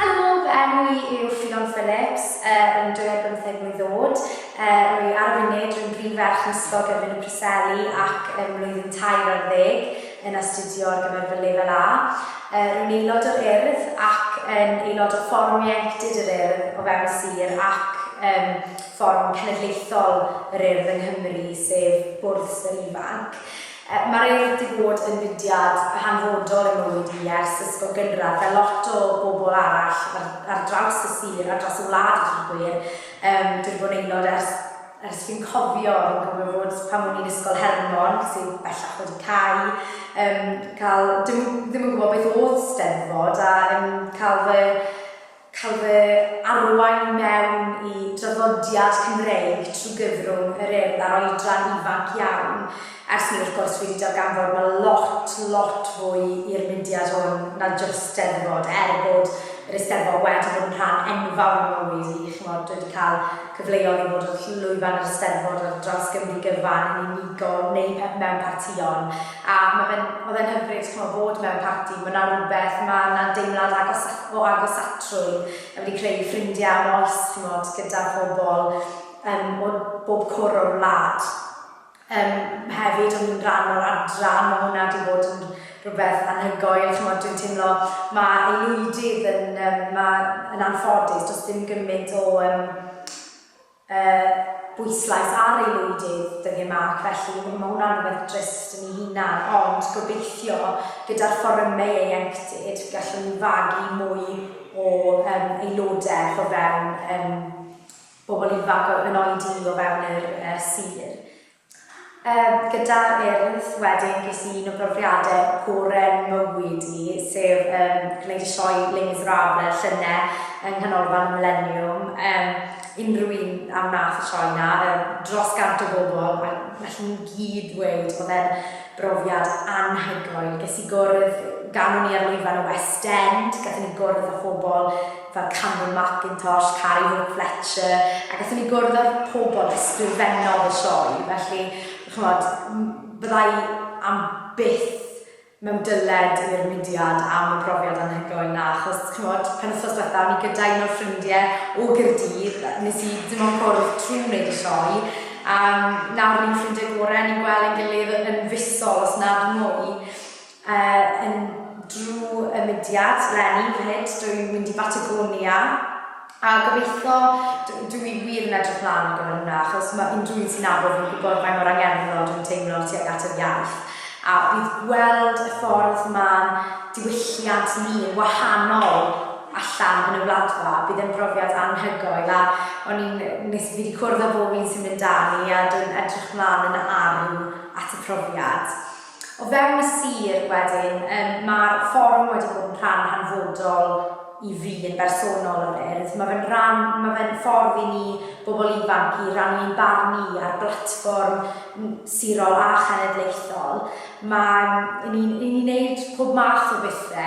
Helo, fy enw i yw Ffion Phillips, rwy'n 25 mlwydd oed, rwy ar y funud, rwy'n brif ferch yn Ysgol Gyfun y Preseli ac ym mlwyddyn tair ar ddeg yn astudio ar gyfer fy Lefel A. Rwy'n aelod o'r Urdd ac yn aelod o Fforwm Ieuenctid yr Urdd o fewn y Sir ac ym Fforwm Cenedlaethol yr Urdd yng Nghymru, sef Bwrdd Swyr Ifanc. Mae'r Urdd wedi bod yn fudiad hanfodol yn mywyd i ers ysgol gynradd, fel lot o bobl arall ar ar draws y sir a dros y wlad a dweud y gwir. Yym dwi 'di bod yn aelod ers ers fi'n cofio, fi'n cofio fod pan o'n i'n Ysgol Hermon, sydd bellach wedi cau, yym cael dim yn ddim yn gwybod beth oedd 'Steddfod a yn cael fy cael fy arwain mewn i draddodiad Cymreig trwy gyfrwng yr Urdd ar oedran ifanc iawn, ers ni wrth gwrs wedi darganfod ma' lot, lot fwy i'r mudiad hwn na jyst Steddfod, er bod yr Eisteddfod wedi bod yn rhan enfawr o'n mywyd i, ch'mod, wedi cael cyfleodd i fod wrth lwyfan yr Eisteddfod ar draws Gymru gyfan, yn unigol neu pe- mewn partïon. A ma' fe'n, ma' fe'n hyfryd ch'mo' bod mewn parti, ma' 'na rwbeth, ma' 'na deimlad agos- o agosatrwydd yn wedi creu ffrindie am oes ch'mod gyda pobl yym o bob cwr o'r wlad. Yym hefyd o'n i'n ran o'r adran, ma' hwnna 'di bod yn rwbeth anhygoel ch'mod dwi'n teimlo ma' aelwydydd yn yym ma' yn anffodus do's dim gymint o yym y bwyslais ar aelwydydd dyngu marc felly ma' hwnna'n rhywbeth drist yn ei hunan ond gobeithio gyda'r fforymau ieuenctid gallwn ni fagu mwy o yym aelodaeth o fewn yym bobl ifanc yn oedi o fewn yr yy sir. Yym gyda'r Urdd wedyn ges i un o brofiade gore mywyd i sef yym gwneud y sioe Les Miserables llyne yng Nghanolfan y Mileniwm yym unrhyw un a wnaeth y sioe 'na yym dros gant o bobl a nathon nhw gyd ddweud o'dd e'n brofiad anhygoel, ges i gwrdd gan o'n i ar lwyfan y West End gathon ni gwrdd â phobl fel Cameron Mackintosh, Carrie Hope Fletcher, a gallwn ni gwrdd â'r pobl ysgrifennodd y sioe, felly, ch'mod, fydda i am byth mewn dyled i'r mudiad am y profiad anhygoel 'na, achos, ch'mod, penwythnos diwetha' o'n i gyda un o'r ffrindie o Gaerdydd, nes i dim ond cwrdd trw' wneud y sioe, a nawr ni'n ffrindie gore, ni'n gwel' ein gilydd yn fisol, os nad mwy. Yy yn dru y mudiad leni fyd dw i'n mynd i Batagonia a gobeithio d- dw i wir yn edrych mlan ar gyfer hwnna achos ma' unrhyw un sy'n nabod fi'n gwybod faint mor angerddol dw i'n teimlo tuag at yr iaith a bydd gweld y ffordd ma'n diwylliant ni yn wahanol allan yn y Wladfa bydd e'n brofiad anhygoel a o'n i'n nes fi 'di cwrdd â bob un sy'n mynd 'da ni a dw i'n edrych mlan yn arw at y profiad. O fewn y sir, wedyn, yym, mae'r fforwm wedi bod yn rhan hanfodol i fi yn bersonol o'r Urdd. Mae fe'n ran, mae fe'n ffordd i ni, bobl ifanc, i rannu ein barn ni ar blatfform n- sirol a chenedlaethol. Mae... 'yn ni'n 'yn ni'n wneud pob math o bethe,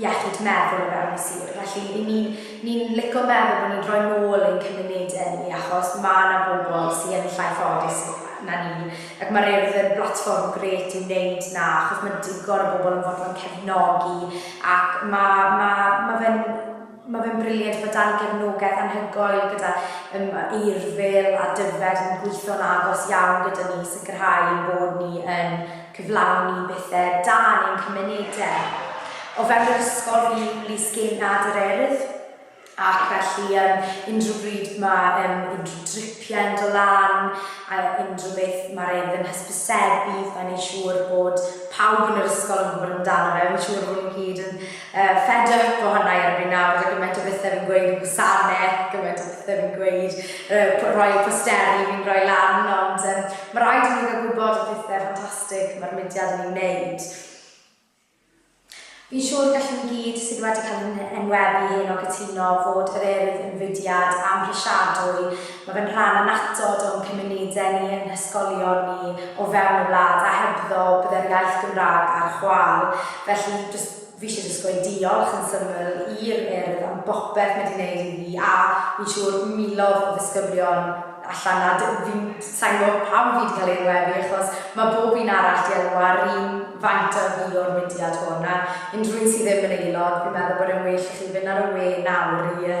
iechyd meddwl o fewn y sir. Felly, i ni, ni'n lico meddwl bod ni'n rhoi nôl ein cymunedau ni, achos mae yna bobl sydd yn llai ffodus na ni, ac mae'r Urdd yn blatfform grêt i wneud na, achos mae digon o bobl yn fodlon cefnogi, ac mae, mae, mae fe'n, Mae fe'n brilliant bod dau gefnogaeth anhygoel gyda um, Eirfil a Dyfed yn gweithio'n agos iawn gyda ni i sicrhau ein bod ni yn cyflawni bethau da yn ein cymunedau. O fewn yr ysgol fi Lys Genad yr Urdd ac felly um, unrhyw bryd mae um, unrhyw dripiau yn dod lan a unrhyw beth mae'r Urdd yn hysbysebu, mae'n ei siŵr bod pawb yn yr ysgol yn gwybod amdano fe, mae'n siŵr bod nhw gyd yn Fedrwch gwahanau erbyn nawr, roedd gymaint o bethau fi'n gweud yn gwasanaeth, gymaint o bethau fi'n gweud, rhoi posteri fi'n rhoi lan, ond um, mae rhaid i ni gael gwybod y pethau ffantastig mae'r mudiad yn ei wneud. Fi'n siŵr gallwn ni gyd sydd wedi cael yn enwebu hyn o gytuno fod yr Urdd yn fudiad amhrisiadwy Mae fe'n rhan annatod o'n cymunedau ni, ein hysgolion ni, o fewn y wlad, a hebddo bydde'r iaith Gymraeg ar chwâl. Felly, jyst, fi eisiau jyst gweud diolch yn syml i'r Urdd am bopeth mae 'di wneud i fi, a fi'n siŵr milodd o ddisgyblion allan 'na. D- fi'n... sa i'n gwybod pam fi 'di cael ei enwebu, achos mae bob un arall 'di enw ar un faint â fi o'r mudiad hwn, a unrhyw un sydd ddim yn aelod, fi'n meddwl bod e'n well i chi fynd ar y we nawr i yy